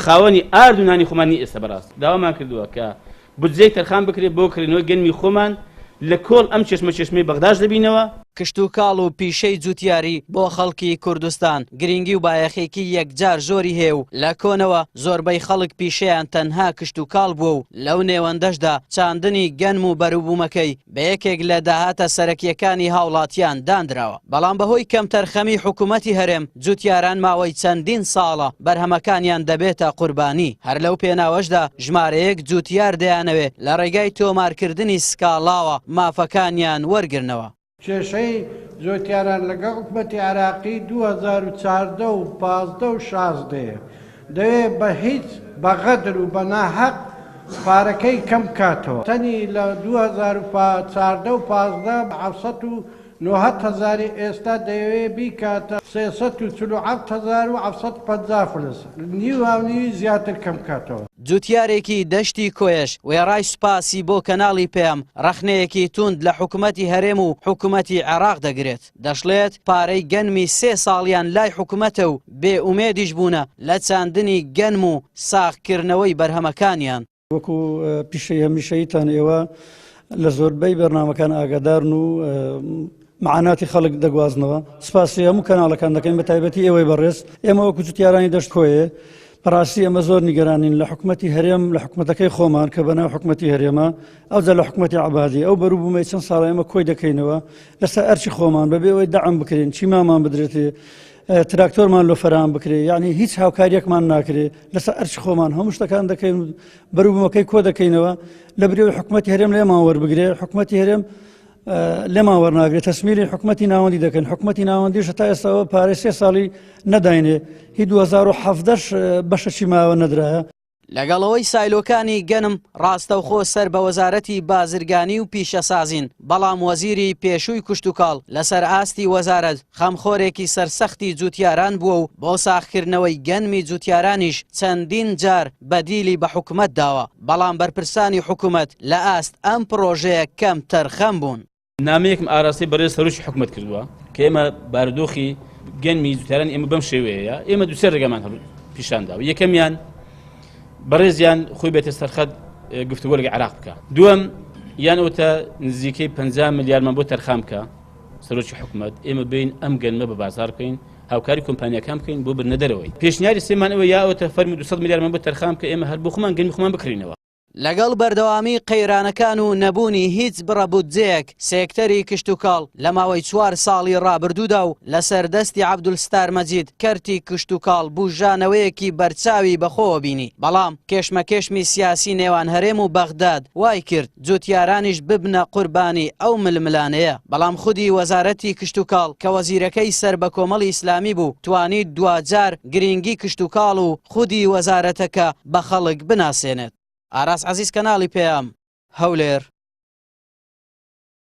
خاوەنی ئارد و نانی خۆمان نی ئێستا بەڕاست داوامان کردووە کە بودجەی تەرخان بکرێت بۆ کڕینەوەی گەنمی خۆمان لە کۆڵ ئەم چشمە چشمەی بەغداش دەبینەوە. کشتوکاڵ و پیشەی جوتیاری بۆ خەڵکی کوردستان گرینگی و بایەخێکی یەکجار زۆری هەیە و لە کۆنەوە زۆربەی خەڵک پیشەیان تەنها کشتوکاڵ بووە و لەو نێوەندەشدا چاندنی گەنم و بەروبوومەکەی بە یەکێک لە داهاتە سەرەکییەکانی هاوڵاتیان داندراوە، بەڵام بەهۆی کەمتەرخەمیی حکوومەتی هەرێم، جووتیاران ماوەی چەندین ساڵە بەرهەمەکانیان دەبێتە قوربانی، هەر لەو پێناوەشدا ژمارەیەک جووتیار دەیانەوێ لە ڕێگای تۆمارکردنی سکاڵاوە مافەکانیان وەرگرنەوە. کێشەی جووتیاران لەگەڵ حکومەتی عێراقی دوو هەزار و چواردە و پازدە و شازدە یە، دەوێ بە هیچ بە غەدر و بە ناهەق پارەکەی کەم بکاتەوە تەنی لە دوو هەزار و پا چاردە و پازدە بە حەفت سەد و نۆهەت هەزاری ئێستا دەیەوێ بیکاتە سێ سەد و چل و حەفت هەزار و حەفت سەد و پەنجا فلس نیو هاونیوی زیاتر کەم بکاتەوە. جوتیارێکی دەشتی کۆیەش وێڕای سوپاسی بۆ کەناڵی پەیام، ڕەخنەیەکی توند لە حکومەتی هەرێم و حکومەتی عێراق دەگرێت. دەشڵێت، پارەی گەنمی سێ ساڵیان لای حکومەتە و بێ ئومێدیش بوونە لە چاندنی گەنم و ساغکردنەوەی بەرهەمەکانیان. وەکو پیشەی هەمیشەییتان ئێوە لە زۆربەی بەرنامەکان ئاگادارن و معاناتی خەڵک دەگوازنەوە، سپاسی هەموو کەناڵەکان دەکەین بەتایبەتی ئێوەی بەڕێز، ئێمە وەکو جوتیارانی دەشت کۆیێ، بەڕاستی ئەمە زۆر نیگەرانین لە حکومەتی هەرێم لە حکومەتەکەی خۆمان کە بەناو حکومەتی هەرێمە ئەوجا لە حکومەتی عبادی ئەو بەرو بوومەی چەند ساڵە ئەمە کۆی دەکەینەوە لەسەر ئەرچی خۆمان بەبێ ئەوەی دەعم بکرێن چی مامان بدرێتێ تراکتۆرمان لۆ فەرام بکرێ یعنی هیچ هاوکاریەکمان ناکرێ لەسەر ئەرچ خۆمان هەموو شتەکان دەکەین بەروبوومەکەی کۆ دەکەینەوە لە برێوی حکوومەتتی هەرێم لێمان وەربگرێ حکوومەتتی هەرێم لێمان وەرناگرێت تەسمیلی حکوومەتتی ناوەندی دەکەن حکوومەتتی ناوەندیش تا ئێستاەوە پارێ سێ ساڵی نەداینێ هی 2017 بەشەچی ماوە نەدرایە لەگەڵەوەی سایلۆکانی گەنم ڕاستەوخۆ سەر بە وەزارەتی بازرگانی و پیشەسازین بەڵام وەزیری پێشووی کوشتتوکاڵ لەسەر ئاستی وەزارەت خەمخۆرێکی سەرسەختی جووتیاران بووە و بۆ ساخکردنەوەی گەنمی جووتیارانیش چەندین جار بەدیلی بە حکومەت داوە، بەڵام بەرپرسانی حکومەت لە ئاست ئەم پڕۆژەیە کەمتەرخەم بوون. نامەیەکم ئاراستەی بەڕێز سەرۆکی حکومەت کردووە کە ئێمە بارودۆخی گەنمی جووتیارانی ئێمە بەم شێوەیەیە، ئێمە دوو سێ ڕێگامان پیشان داوە، یەکەمیان بەڕێزیان خۆی بێتە سەرخەت گفتوگۆ لەگەڵ عێراق بکات، دووەم یان ئەوتە نزیکەی پەنجا ملیارمان بۆ تەرخان بکات، سەرۆکی حکومەت ئێمە بین ئەم گەنمە بە بازار بکەین هاوکاری کۆمپانیەکان بکەین بۆ برنە دەرەوەی پێشنیاری سێمان ئەوە یاوەتە فەرمی 200 میلیارمان بۆ تەرخان کە ئێمە هەر بۆ خۆمان گەنمی خۆمان بکڕینەوە. لەگەڵ بەردەوامی قەیرانەکان و نەبوونی هیچ بڕە بودجەیەک، سێکتەری کشتوکاڵ لە ماوەی چوار ساڵی ڕابردوودا و لەسەر دەستی عەبدولستار مەجید کەرتی کشتوکاڵ بووژانەوەیەکی بەرچاوی بەخۆوە بینی، بەڵام کێشمەکێشمی سیاسی نێوان هەرێم و بەغداد وایکرد، جوتیارانیش ببنە قوربانی ئەو ململانێیە، بەڵام خودی وەزارەتی کشتوکاڵ کە وەزیرەکەی سەر بە کۆمەڵی ئیسلامی بوو توانی دواجار گرینگی کشتوکاڵ و خودی وەزارەتەکە بە خەڵک بناسێنێت. ئاراس عەزیز کەناڵی پەیام، هەولێر.